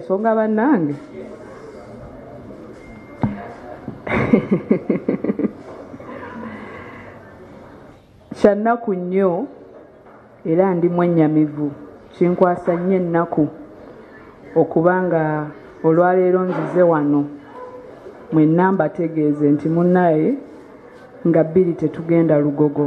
songa banange kyannaku nnyo era ndi mwennyamivu kinkwasa nnyo ennaku okuba nga olwaleero nzize wano mwenna mbategeeze nti munnaye nga bbiri tetugenda lugogo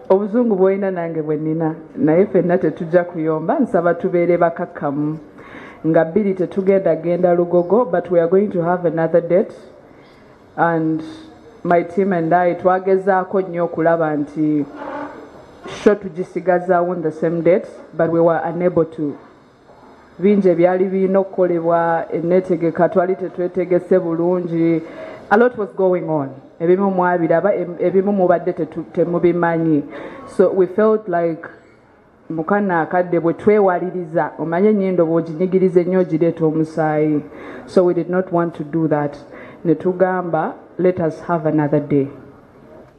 obuzungu bwolina nange bwe nina naye fenna tetujja kuyomba nsaba tubeere bakakkamu nga bbiri tetugenda genda lugogo but we are going to have another date and my team and i twagezaako nnyo okulaba nti sho tugisigazawo on the same date but we were unable to bingi ebyali birina okukolebwa enneetegeka twali tetwetegese bulungi a lot was going on ebimu mwabiraba ebimu mubadde temubimanyi so we felt like mukana akadde bwe twewaliriza omanye enyindo bwoginyigiriza ennyo ogireeta omusaayi so we did not want to do that ne tugamba let us have another day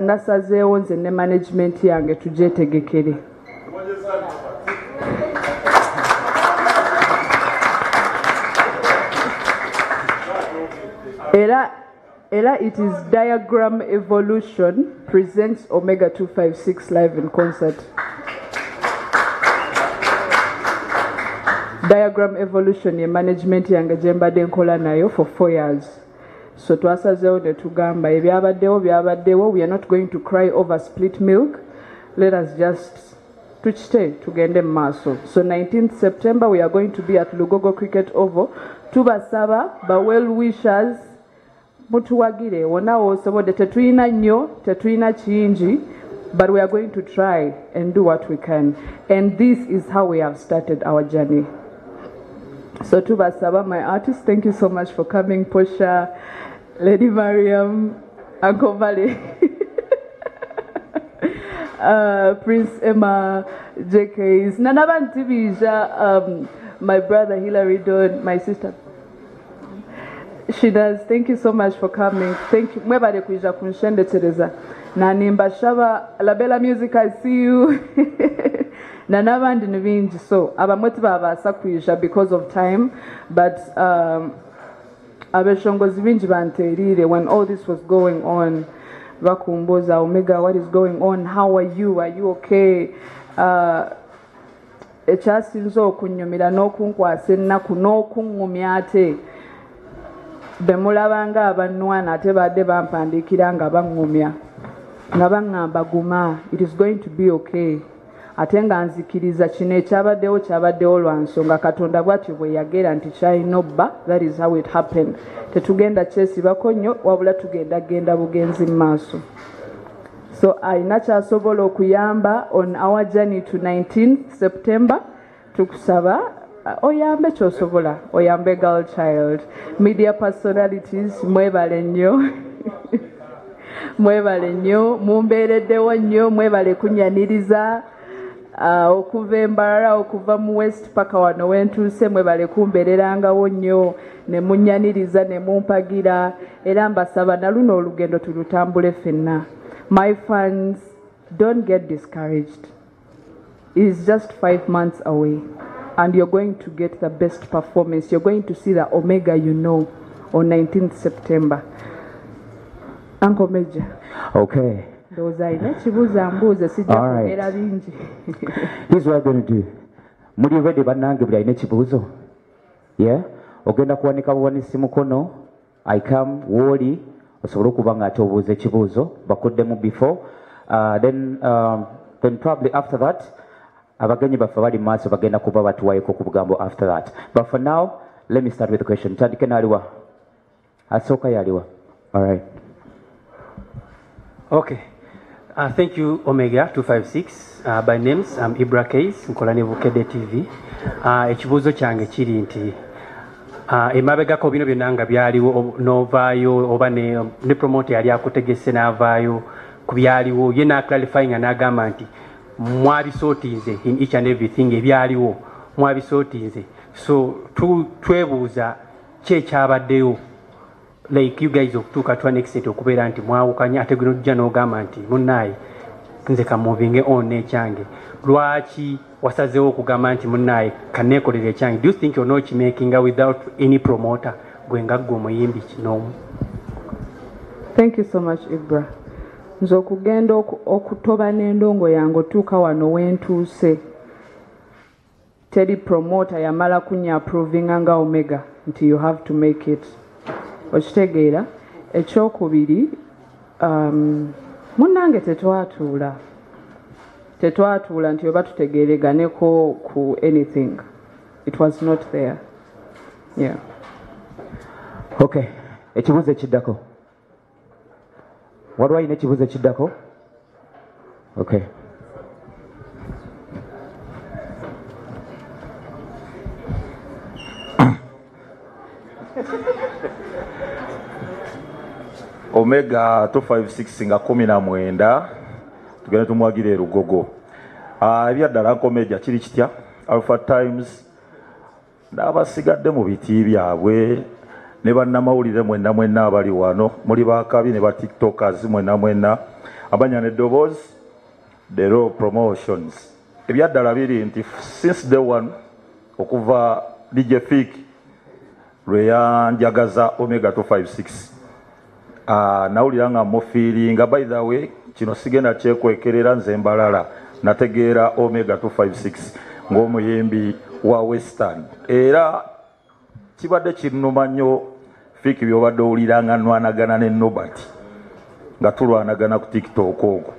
nasazeewo nze ne management yange tugyetegekere era era it is diagram evolution presents omega 256 live in concert diagram evolution ye management yange gye mbadde nkola nayo for four years so twasazeewo ne tugamba ebyabaddewo byabaddewo we are not going to cry over split milk let us just tukite tugende mu maaso so 19th september we are going to be at lugogo cricket oval tubasaba ba well wishers mutuwagire wona wosobodde tetulina nnyo tetulina kingi but we are going to try and do what we can and this is how we have started our journey So tubasaba my artist, thank you so much for coming Portia, Lady Mariam, Uncle Valley. uh, Prince Emma, JKs, Nanaban Tibija, um, my brother Hilary Don, my sister She does. Thank you so much for coming. Thank you. Mwebale kuija kunshendekereza. Na nimba shaba La Bella Music I see you. na n'abandi ni bingi so abamwe tibabasa kuija because of time but um, abeshongozi bingi banterire when all this was going on bakumbuza omega what is going on how are you are you okay uh, ekyasinze okunnyumira n'okunkwasa ennaku n'okuŋŋumya ate be mulaba ng'abannwana ate baadde bampandiikira nga baŋŋumya nga baŋŋamba guma it is going to be okay ate nga nzikiriza kino ekyabaddewo kyabaddewo lwa nsonga katonda bwatyo bwe yagera nti kyalina obba that is how it happened tetugenda kyesibako nnyo wabula tugenda genda bugenzi mu maaso so alina kyasobola okuyamba on our journey to 19 september tukusaba uh, oyambe kyosobola oyambe girl child media personalities mwebale nnyo mwebale nnyo mumbeereddewo nnyo mwebale kunyaniriza uh, okuva embarara okuva mu west paka wano wentuuse mwebale kumbererangawo nnyo ne munyaniriza ne mumpagira era mbasaba na luno olugendo tulutambule fenna my fans don't get discouraged it is just five months away and you're going to get the best performance you're going to see the omega you know on 19th september uncle major okay ndowooza alina ekibuuza mbuuze sijja kwogera bingi here's what i'm going to do muli ready bannange buli alina ekibuuzo yeah ogenda kuwanika buwanisi mukono i come wooli osobole okuba nga ate obuuza ekibuuzo bakuddemu before uh, then, um, then probably after that abagenyi baffe bali maaso bagenda kuba batuwayeko ku bugambo after that but for now let me start with the question tandike naaliwa asooka yaliwa alright okay Uh, thank you Omega 256 uh, by names I'm Ibra Case nkola ne Bukede TV uh, ekibuuzo kyange kiri nti uh, emabegako bino byonna nga byaliwo novaayo oba ne, ne promote yali akutegese n'avaayo ku byaliwo ye n'aclarify nga n'agamba nti mwabisootinze in each and everything ebyaliwo mwabisootinze so twebuuza tu ki ekyabaddeyo like you guys okutuuka to an extent okubeera nti mwawukanye ate gwe nojja n'ogamba nti munnaaye nze kamuvinge on n'ekyange lwaki wasazeewo okugamba nti munnaaye kaneekolera ekyange do you think ona okimakinga without any promoter gwe nga ggwe omuyimbi kinoomu thank you so much ibra nze okugenda okutoba n'endongo yange otuuka wano wentuuse Teri promoter yamala kunya approvinga nga Omega nti you have to make it. Okitegeera? Ekyokubiri um, munnange tetwatuula tetwatuula nti oba tutegeereganeko ku anything it was not there yeah. okay ekibuuzo ekiddako waliwo alina ekibuuzo ekiddako okay omega 256 nga 19 tugende tumwagira erugogo ah, ebyaddala nkomeja kiri kitya alpha times n'abasigadde mu biti byabwe ne bannamawulire mwenna mwenna abali wano muli bakabi ne batiktokers mwenna mwenna abanya ne ddoboozi the raw promotions ebyaddala biri nti since day one okuva dj fik lwe yanjagaza omega 256 Ah, nawulira nga mufiiringa by the way kino sigenda kyekwekerera nze mbalala nategeera omega 256 ng'omuyimbi wa western era kibadde kinnuma nnyo fiiki byobadde owulira nga nwanagana ne nobert nga tulwanagana ku tiktok ogo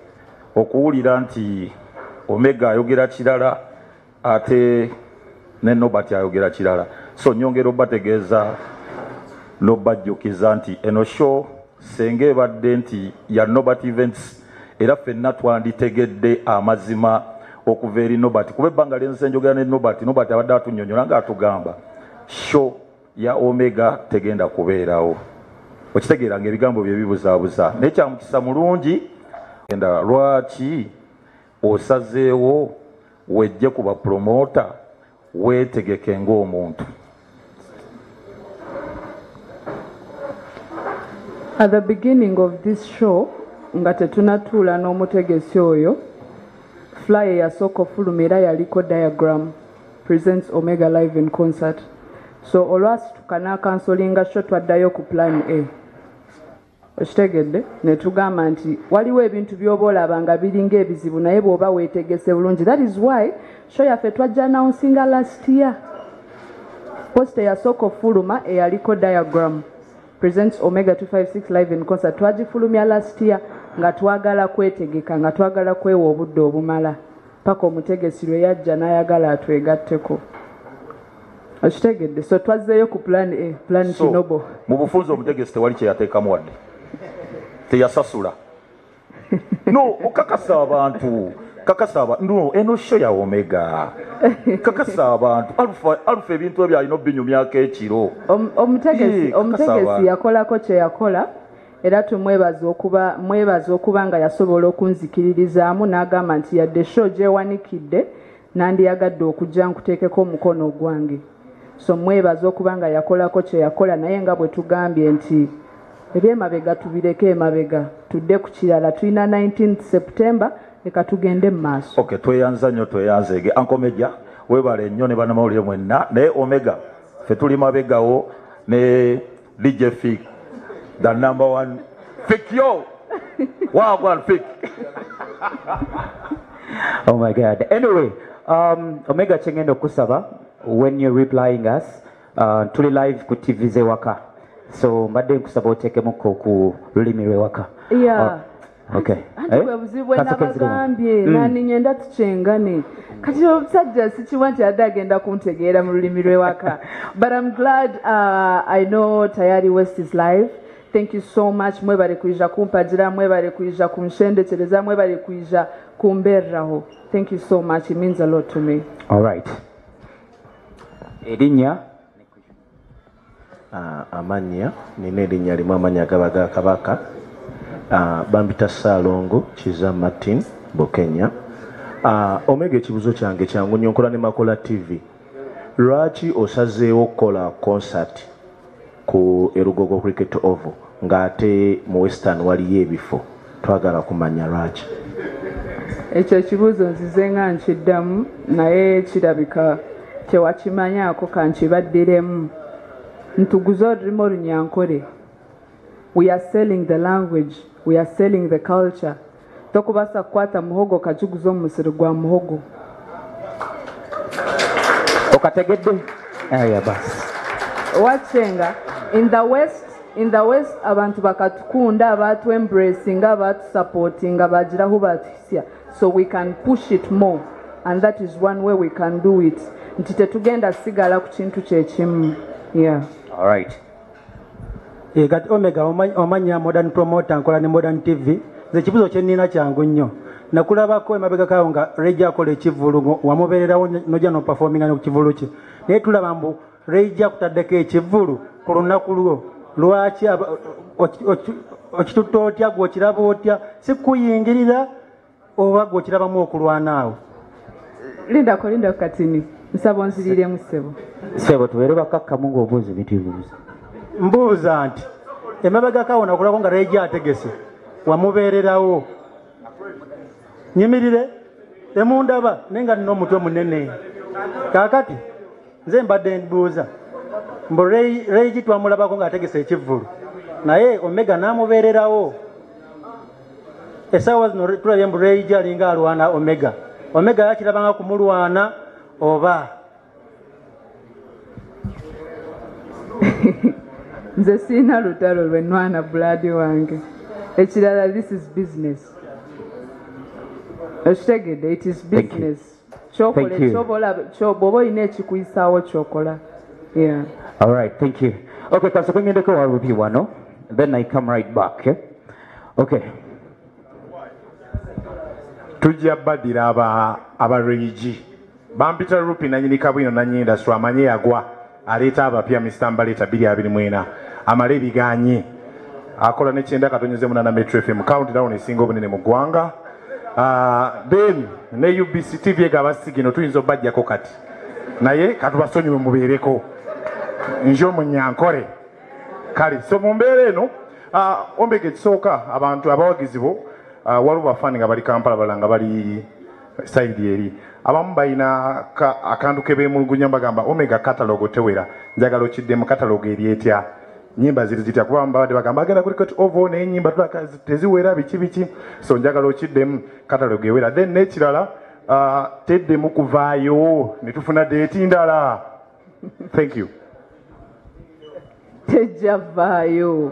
okuwulira nti omega ayogera kirala ate ne Nobert ayogera kirala so nyongera obategeeza nobajjukiza nti eno show senga ebadde nti ya Nobert events era fenna twanditegedde amazima okuva eri Nobert kuba ebbanga lyenze njogera ne Nobert Nobert abadde atunyonyola nga atugamba show ya Omega tegenda kubeerawo okitegeera nga ebigambo bye bibuzabuza naye kyamukisa mulungi enda lwaki Osazeewo wejje ku ba promoota weetegeke ng'omuntu. At the beginning of this show nga tetunatuula n'omutegesi oyo fly eyasooka ofuluma era yaliko diagram presents omega live in concert so olwasituka n'akansolinga sho twaddayo ku plan a okitegedde netugamba nti waliwo ebintu byoba olaba nga biringa ebizibu naye bwoba wetegese bulungi that is why show yaffe twajja announcinga last year post eyasooka ofuluma eyaliko diagram presents omega 256 live in concert twagifulumya last year nga twagala kwetegeka nga twagala kwewa obudde obumala paka omutegesi lwe yajja n'ayagala atwegatteko okitegedde so twazzeeyo ku plan a plan so, kinobo mu bufunzi omutegesi tewali kyeyateekamu wadde teyasasula no okakasa abantu kakasa abantu no eno sho ya omega kakasa abantu alufa alufa ebintu ebyo alina obinyumyako ekiro omutegesi omutegesi yakolako kye yakola era tumwebaza okuba mwebaza okuba nga yasobola okunzikiririzaamu n'agamba nti yadde sho gyewanikidde nandiyagadde okujja nkuteekeko omukono ogwange so mwebaza okuba nga yakolako kyeyakola naye nga bwe tugambye nti ebyemabega tubireke emabega tudde ku kirala tulina 19 september leka tugende mu maaso okay, tweyanza nnyo tweyanzeege ankomeja webale nnyo ne banamawulire mwenna naye omega fe tuli mabegawo ne DJ Fik, the number one Fik yo. Wagwan Fik. oh my God. Anyway, um, Omega Chengendo Kusaba, when you're replying us, uh, tuli live ku TV zewaka. So mbadde nkusaba otekemuko ku lulimi lwewaka. Yeah. Uh, Okay. anti Eh? bwe buzibu bwe Kaseke ziriwa? nabagambye Mm. naninye nda tukyengane kati omusajja sikiwa nti adde agenda kuntegeera mu lulimi lw'ewaka but i'm glad uh, i know tayari west is live thank you so much mwebale kuija kumpagira mwebale kuija kunshendekereza mwebale kuija kumbereraho thank you so much it means a lot to me All right. Erinnya Amannya, Nnina erinnya limu amannya gaba ga Kabaka. Bampita Ssaalongo Kizza Martin Bukenya. Omega ekibuzo kyange kyangu nnyo nkola ne Makola TV. Lwaki osazeewo okukola concert ku e Lugogo Cricket Oval nga ate mu Western waliyo ebifo? Twagala kumanya lwaki. Ekyo ekibuuzo nzize nga nkiddamu naye kirabika tewakimanyaako kankibaddiremu. Ntuguze olulimi olunyankore. We are selling the language, we are selling the culture. Tokubaasa kukwata muhogo okagiguza omu musiri gwa muhogo. Okategedde? Aya basi. Wacenga in the west In the west abantu bakatukunda abatu embracing abatu supporting abajira hu batuhisia so we can push it more and that is one way we can do it nti tetugenda sigala ku kintu kyekimu yeah all right e gat omega omanya modern promoter nkola ne modern tv ze kibuzo kye nina kyangu nnyo nakulabako emabega kawo nga rejja akola ekivulu wamubererawo nojja no performing ne kivulu kye naye tulaba mbu Reija kutaddeko ekivvulu ku lunaku lwo lwaki okitutte otya gwe okiraba otya si kuyingirira oba gwe okirabamu okulwana awo lindako lindako katini nsaba onziriremu ssebo ssebo tubeere bakakkamu ng'obuuzi bitibuuza mbuuza nti emabegako awo nakulako nga reija ategese wamubeererawo nyimirire emundaba naye nga nina omutwe munene kaakati nze mbadde nbuuza mbu reigi twamulabako ng'ategesa ekivvulu naye omega n'amubeererawo esaawa zino tulabye mbu reigi alinga alwana omega omega yakirabanga kumulwana oba nze siina lutalo lwe nwana bulaadi wange ekirala this is business okitegedde it is business bwoba olina ekikuyisaawo kyokola alright thank you okay kasoko ngendeko wa ruby wano then i come right back eh? okay tujja badira aba aba regi bampita rupi nanyini kabwino nanyini industry amanye yagwa aleeta abapya Mr. Mbaleeta 224 amale ebiganye akola ne kyenda katonyeze munana Metro FM countdown esinga obunene mu ggwanga ah, then ne UBC TV egaba sigino tuyinza obajjako kati naye katubasonyiwe mubeereko nje omunyankore kale so mu mbeera eno ah, ombega ekisooka abantu abawagizi bo ah, waliwo bafaani nga bali kampala balala nga bali sayidi eri abamu balina akantu kebemulugunya bagamba omega katalogo tewera njagala okiddemu katalogo eri etya nyimba ziri zitya kuba babadde bagamba agenda kuli kati ovo naye nyimba tulaka teziwera biki biki so njagala okiddemu katalogo ewera then nekirala uh, teddemu kuvaayo netufuna deeti ndala thank you tejja vaayo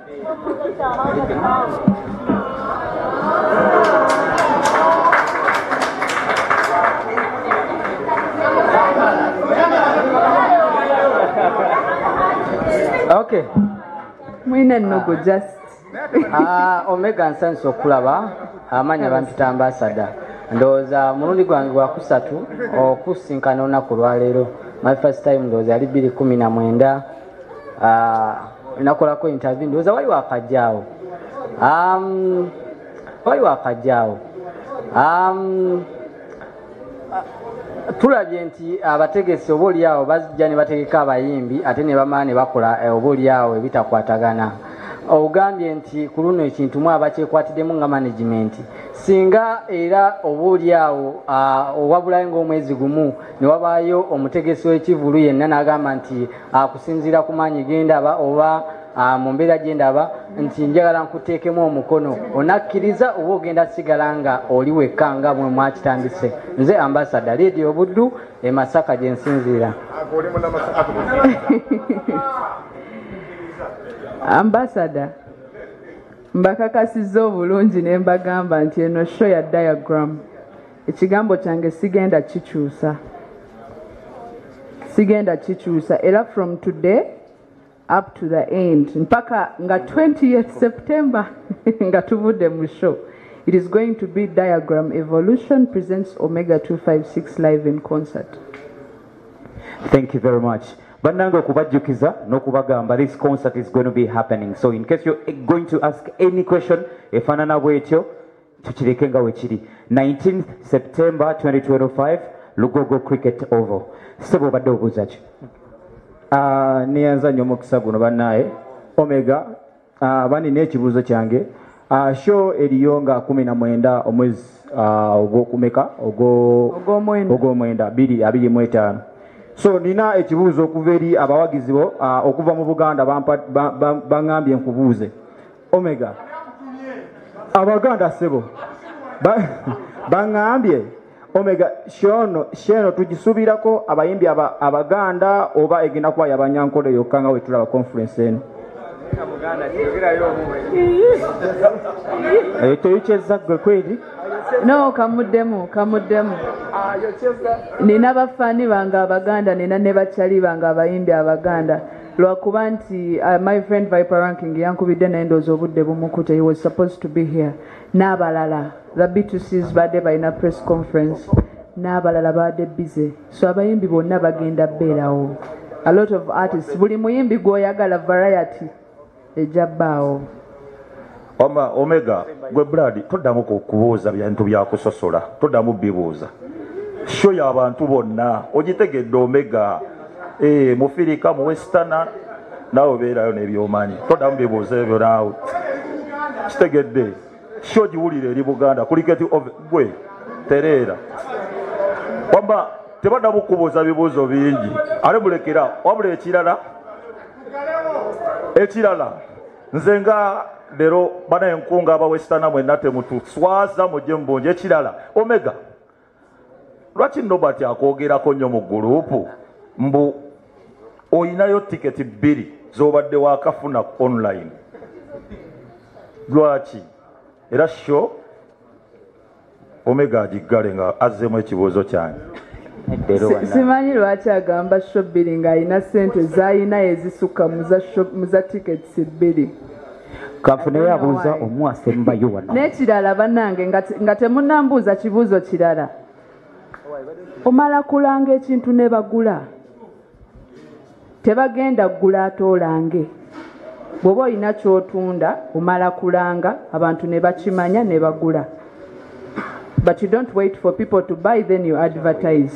okay mwina nnogo just ah, omega nsanisa okulaba amanya bampita ambasada ndowooza mulundi gwange gwakusatu okusinkana olunaku lwaleero my first time ndowooza yali bbiri kumi na mwenda ah, nakolako interview ndowooza waliwo akajjaawo um, waliwo akajjaawo um, tulabye nti abategesi oba olyawo bazijja ne bategeka abayimbi ate ne bamala ne bakola eh, oba olyawo ebitakwatagana ogambye nti ku luno ekintu mu abakyekwatiddemu nga management singa era oba olyawo ah, owabulayo ngaomwezi gumu ne wabaayo omutegesi w'ekivulu yenna n'agamba nti akusinziira ku maanyi gendaba oba Ah, mu mbeera gye ndaba nti njagala nkuteekemu omukono onakkiriza oba ogenda sigala nga oli wekka nga mwe mwakitandise nze ambasada leedi obuddu e masaka gye nsinziira ambasada mbakakasiza obulungi ne mbagamba nti eno sho ya diagram ekigambo kyange sigenda kikyusa sigenda kikyusa era from today up to the end mpaka nga 20 september nga tuvudde mu show it is going to be diagram evolution presents omega 256 live in concert thank you very much bannange okubajjukiza n'okubagamba this concert is going to be happening so in case you're going to ask any question efaanana bwetyo tukireke nga wekiri 19 september 2025 lugogo cricket ovo sebo obadde obuuza ki ah, neyanza nnyo omukisa guno bannaaye omega ah, bani n'ekibuuzo kyange ah, sho eriyo nga 19 omwezi ogwokumeka ogwomwenda 25 so nina ekibuuzo okuva eri abawagizi bo okuva mu buganda baŋambye nkubuuze omega abaganda sebo baŋambye ba omega shono sheno tugisubirako abayimbi abaganda oba egenda kuba yabanyankole yokka nga wetulaba conference eno eyo teyikyezza gwe kweri no kamuddemu kamuddemu nina bafani bange abaganda nina ne bakyali bange abayimbi abaganda lwakuba nti uh, my friend viper ranking yankubidde naye ndoozi obudde bumukute he was supposed to be here n'abalala the btcs baadde balina press conference n'abalala baadde bize so abayimbi bonna bagenda beerawo a lot of artists buli muyimbi gwoyagala variety eja baawo. Wama omega gwe blood todamu kubuuza bintu byakusosola todamu bibuuza sho yabantu bonna ogitegedde omega e, eh, mufirika mu westana naawe obeerayo nebyomanyi todamu bibuuza ebyo naawe kitegedde sho giwulire eri buganda kuliketi gwe tereera wama tebadamu kubuuza bibuuzo bingi ale mulekera wabula ekirala ekirala nze nga leero bana enkunga abawesitana mwenna temutuswaza mujje mubungi ekirala omega lwaki nobert akwogerako nnyo mu gulupu mbu olinayo tiketi bbiri zobadde wakafuna online lwaki era sho omega agiggale nga azzemu ekibuuzo kyange simanyi lwaki agamba sho bbiri ng'alina sente zalina ezisukka mu za tickets bbiri kafuneyo abuuza omu asembayo wano n'ekirala bannange nga temunambuuza kibuuzo kirala omala kulanga ekintu ne bagula tebagenda ggula atoolange bw'oba olina ky'otunda omala kulanga abantu ne bakimanya ne bagula but you don't wait for people to buy then you advertise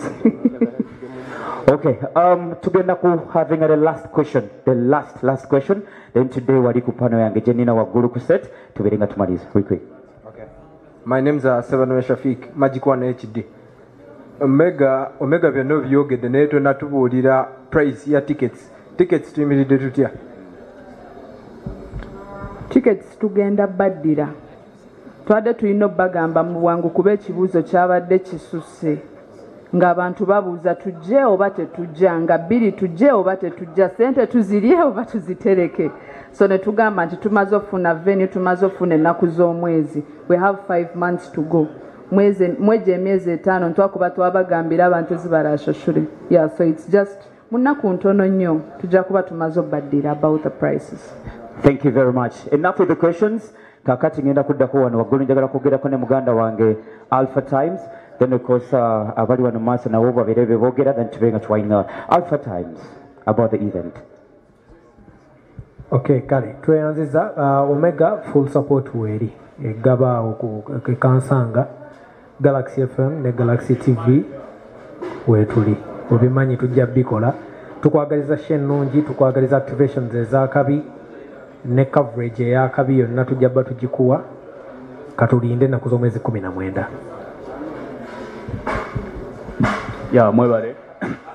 Okay, um, tugenda ku having the last question, the last last question. Then today wali ku pano yange jenina wa guru ku set, tubere nga tumaliza. Quick quick. Okay. My name is uh, Seven Shafik, Magic One HD. omega omega byonna obyogedde naye tonatubuulira price ya tickets tickets tuyimiridde tutya tickets tugenda baddira twabadde tulina obagamba mu bwangu kuba ekibuuzo kyabadde kisusse ng'abantu babuuza tujje oba tetujja nga bbiri tujje oba tetujja sente tuzirye oba tuzitereke so ne tugamba nti tumaze okufuna venu tumaze okufuna ennaku z'omwezi we have five months to go mwegyo emyezi etaano ntwakuba twabagambira abantu ezibarashashure yeah, so it's just mu nnaku ntono nnyo tujja kuba tumaze obaddira about the prices thank you very much enough with the questions kakati ngenda kuddako wano waggulu njagala kwogerako ne muganda wange alpha times then of course uh, abali wano maaso nawo babeere bebogera then tube nga twaina alpha times about the event Okay, kale tweyanziza uh, Omega full support weeri egaba awo ku Kansanga Galaxy FM ne Galaxy TV weetuli obimanyi tujja bikola tukwagaliza sho ennungi tukwagaliza activations ez'akabi ne coverage ey'akabi yonna tujja ba tugikuwa katulinde ennaku z'omwezi kumi na mwenda ya mwebale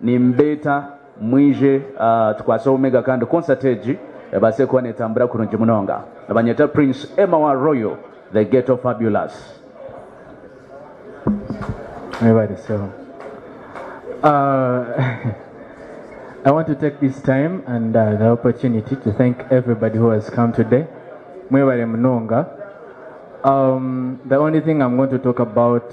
nimbeeta mwije uh, tukwase omega kandi concert egi ebase kuba netambura kurungi munonga abanyeta prince emma wa royal the ghetto fabulous mwebariseho uh, I want to take this time and uh, the opportunity to thank everybody who has come today. Mwebare Mnonga. Um, the only thing I'm going to talk about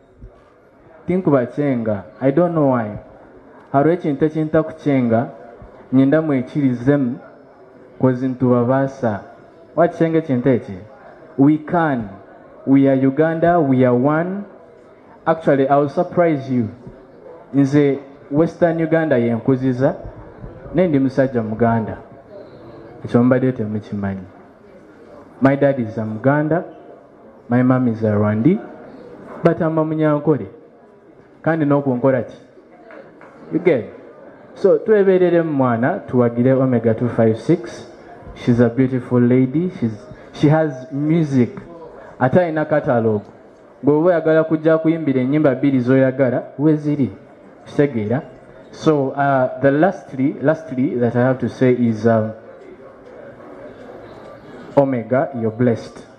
tinkuba kyenga i don't know why hariho ekintu ekinta kukyenga nyenda mwekirizemu kozi ntubabaasa wakikyenga ekintu eki we can we are uganda we are one actually i will surprise you nze western uganda yenkuziza naye ndi musajja muganda ekyo mbadde temukimanyi my dad is a muganda my mom is a rwandi but i'm a munyankole kandi nokunkola ki you get so twebereremu mwana tuwagire omega 256 she's a beautiful lady she's, she has music ate alina catalog bweoba oyagala kujja kuyimbira enyimba bbiri zoyagala weziri kitegeera so uh, the lastly, lastly that i have to say is um, omega you're blessed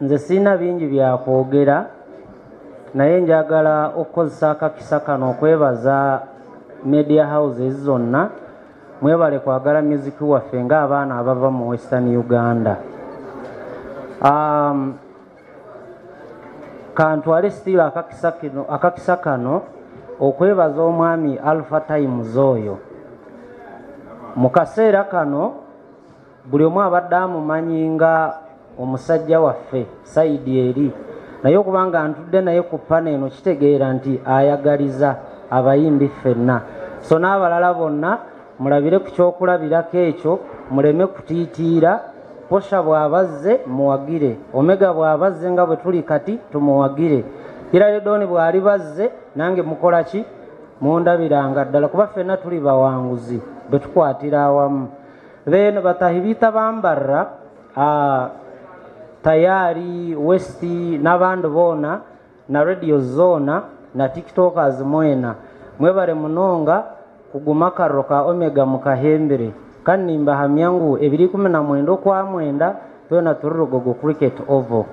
Nze sirina bingi bya kwogera naye njagala okukozesa akakisa kano okwebaza media houses zonna mwebale kwagala muziki waffe ng'abaana abava mu western uganda um, kantwale sitiiro akakisa kano okwebaza omwami alpha times oyo mu kaseera kano buli omu abadde amumanyi nga omusajja waffe sayidi eri naye okuba nga ntudde naye ku pana eno kitegeera nti ayagaliza abayimbi ffenna so n'abalala bonna mulabire ku kyokulabirako ekyo muleme kutiitiira posha bw'abazze muwagire omega bw'abazze nga bwe tuli kati tumuwagire iraredoni bw'ali bazze nange mukola ki mundabiranga ddala kuba ffenna tuli bawanguzi bwe tukwatira awamu then batahi bita bambarra uh, tayari west n'abandi boona na radio zoona na tiktokers mwena mwebale munonga kuguma akarro ka omega mukahembere kandi nimbahamya ngu ebiri kumi na mwenda okwa mwenda twena turi rugogo cricket ovo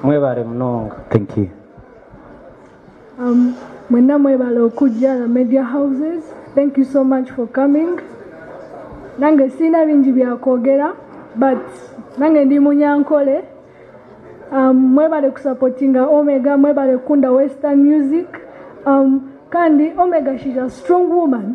mwebale munonga thank you Um, mwenna mwebala okujja the media houses thank you so much for coming nange sirina bingi byakwogera but nange ndi munyankole um, mwebale kusapotinga omega mwebale kunda western music um, kandi omega she's a strong woman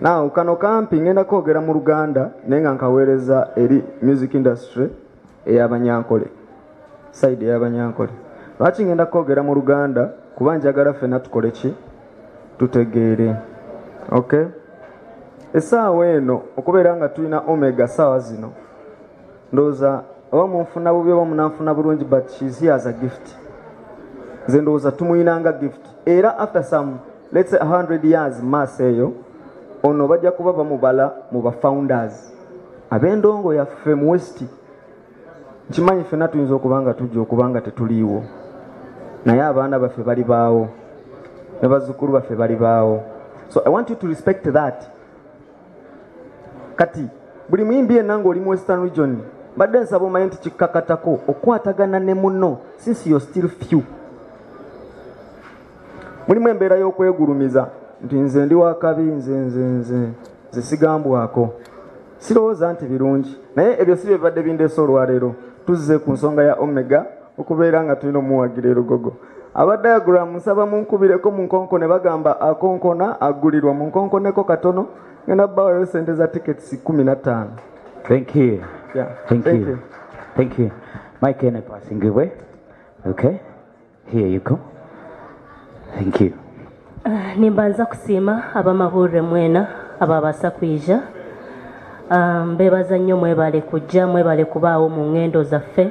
Now kano kampi ngenda kwogera mu Luganda naye nga nkaweereza eri music industry eyabanyankole side eyabanyankole lwaki ngenda kwogera mu Luganda kuba njagala ffena tukole ki tutegeere okay essaawa eno okubeera nga tulina omega saawa zino ndowooza oba munfuna bubi oba munanfuna bulungi but shes here as a gift nze ndowooza tumuyinanga gift era after some lets 100 years maaso eyo ono bajja kuba bamubala mu ba founders ab'endongo yaffe mu west nkimanyi ffena tuyinza okuba nga tujja okuba nga tetuliiwo naye abaana baffe bali baawo ne bazzukulu baffe bali baawo so i want you to respect that kati buli muyimbi yenna ng'oli mu western region mbadde nsaba omanye nti kikkakatako okukwatagana ne muno since yo still few mulimu embeera y'okwegulumiza nti nze ndi wakabi nze nze nze nze sigambwako sirowooza nti birungi naye ebyo si bye bibadde bindeesa olwaleero tuzze ku nsonga ya omega okubeera nga tulina omuwagira erugogo aba diagram nsaba munkubireko mu nkonko ne bagamba akonkona agulirwa mu nkonkoneko katono ngenda bawayo sente za tickets kumi na ttaano thank you yeah. thank, thank you. you thank you mike ene pasingibwe okay here you go thank you uh, nimbanza kusiima abamawulire mwena ababasa kwija um, bebaza nnyo mwebale kujja mwebale kubaawo mu ngendo zaffe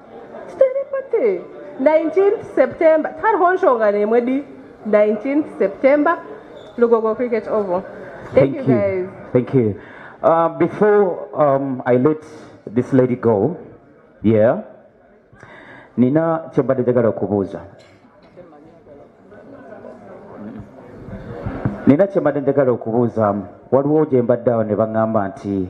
Tuteripate 19th September tariho nshonga nemwe di 19th September Lugogo Cricket Oval. Thank, Thank you, you guys. Thank you. Uh, before um, I let this lady go, yeah, Nina kyebadde jagala kubuuza. Nina kyebadde jagala okubuuza waliwo gye mbadde awo ne baŋŋamba nti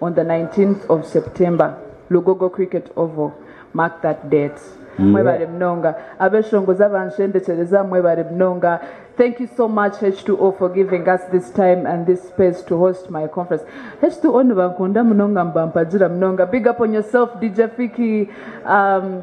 on the 19th of September, Lugogo Cricket Oval. Mark that date. Yeah. Mwebale mnonga. Abeshongoza banshende cheleza mwebale mnonga. Thank you so much H2O for giving us this time and this space to host my conference. H2O nibankunda mnonga mbampajira mnonga. Big up on yourself DJ Fiki. Um,